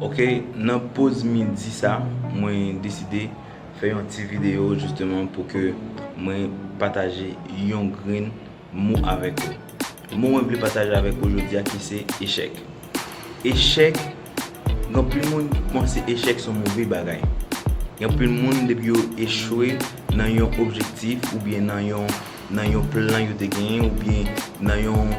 Ok nan poz midi sa mwen deside fè yon ti video justement pou ke mwen pataje yon grenn mo avèk ou. Mo mwen vle pataje avèk ou jodi a ki se echèk. Echèk gen anpil moun ki panse echèk son move bagay. Gen anpil moun depi yo echwe nan yon objektif oubyen nan yon nan yon plan yo te genyen oubyen nan yon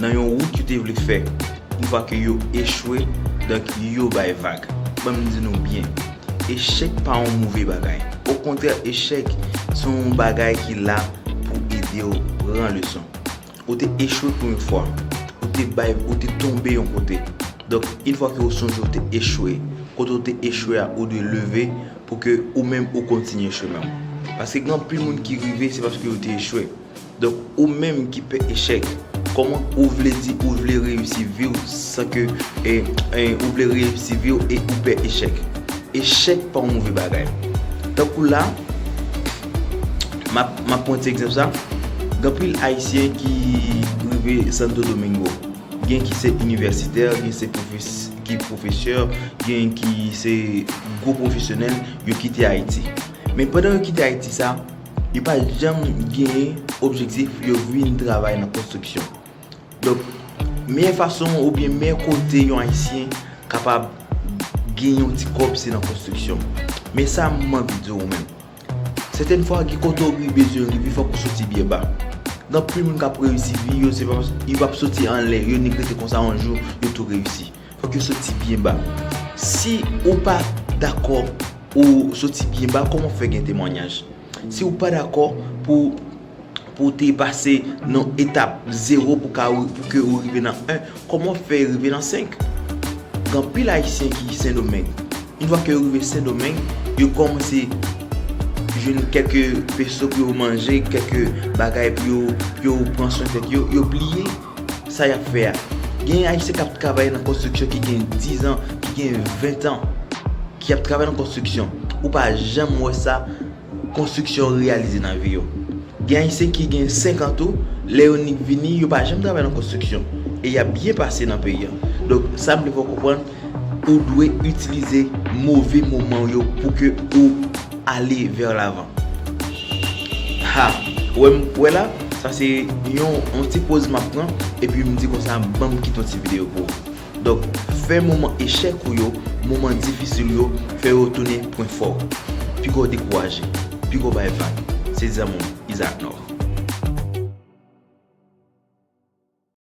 nan yon wout yo te vle fè yon fwa ke yo echwe donk yo bay vag. Ban m di nou byen, echèk pa yon move bagay. Okontrè echèk se yon bagay ki la pou ede w pran leson. Ou te echwe pou yon fwa, ou te bay, ou te tonbe yon kote, donk yon fwa ke ou sonje ou te echwe, kote ou te echwe a ou dwe leve pou ke ou menm ou kontinye chemen w. Paske gen anpil moun ki rive se paske yo te echwe. Donk ou menm ki pè echèk, kòman ou vle di ou vle reyisi vi w san ke ou vle reyisi vi w e ou pè echèk? Echèk pa yon move bagay. Tankou la, m ap pran yon ti egzanp sa, gen anpil Ayisyen ki rive Santo Domingo. Gen ki se inivèsitè, gen se ki pwofesè, gen ki se gwo pwofesyonèl, yo kite Ayiti. Men pandan yo kite Ayiti sa, Yo pa janm genyen objektif yo vin travay nan konstriksyon. Donk, meyè fason oubyen meyè kote yon Ayisyen kapab gen yon ti kòb se nan konstriksyon. Men sa m anvi di w menm. Sèten fwa gen kote w bezwen rive fòk ou soti byen ba. Gen anpil moun k ap reyisi vi yo se pa paske yo p ap soti anlè yo nèt rete konsa yon jou yo tou reyisi. Fòk yo soti byen ba. Si ou pa dakò pou soti byen ba, kòman w fè gen temwanyaj? Si ou pa dakò pou ou te pase nan etap zewo pou ke ou rive nan 1, kòman w fè rive nan 5? Gen anpil Ayisyen ki Sendomeng. Yon fwa ke yo rive Sendomeng, yo kòmanse jwenn kèlke peso pou yo manje, kèlke bagay pou yo pran swen tèt yo, yo bliye. Sa y ap fè a? Gen Ayisyen k ap travay nan konstriksyon ki gen 10 an, ki gen 20 an, ki ap travay nan konstriksyon. Ou pa janm wè sa konstriksyon reyalize nan vi yo. Gen Ayisyen ki gen 5 an tou, lè yo nik vini, yo pa janm travay nan konstriksyon. E y ap byen pase nan peyi an. Donk, sa m vle fè w konprann, ou dwe itilize move moman w yo pou ke ou ale vers l'avant. Ha! Wè m, wè la, sa se yon ti poz m ap pran epi m di konsa ban m kite yon ti videyo pou ou. Donk, fè moman echèk ou yo, moman difisil ou yo, fè yo tounen pwen fò w. Pi gwo dekouraje, pi gwo bay vag, se dizanmi w Isaac Nord.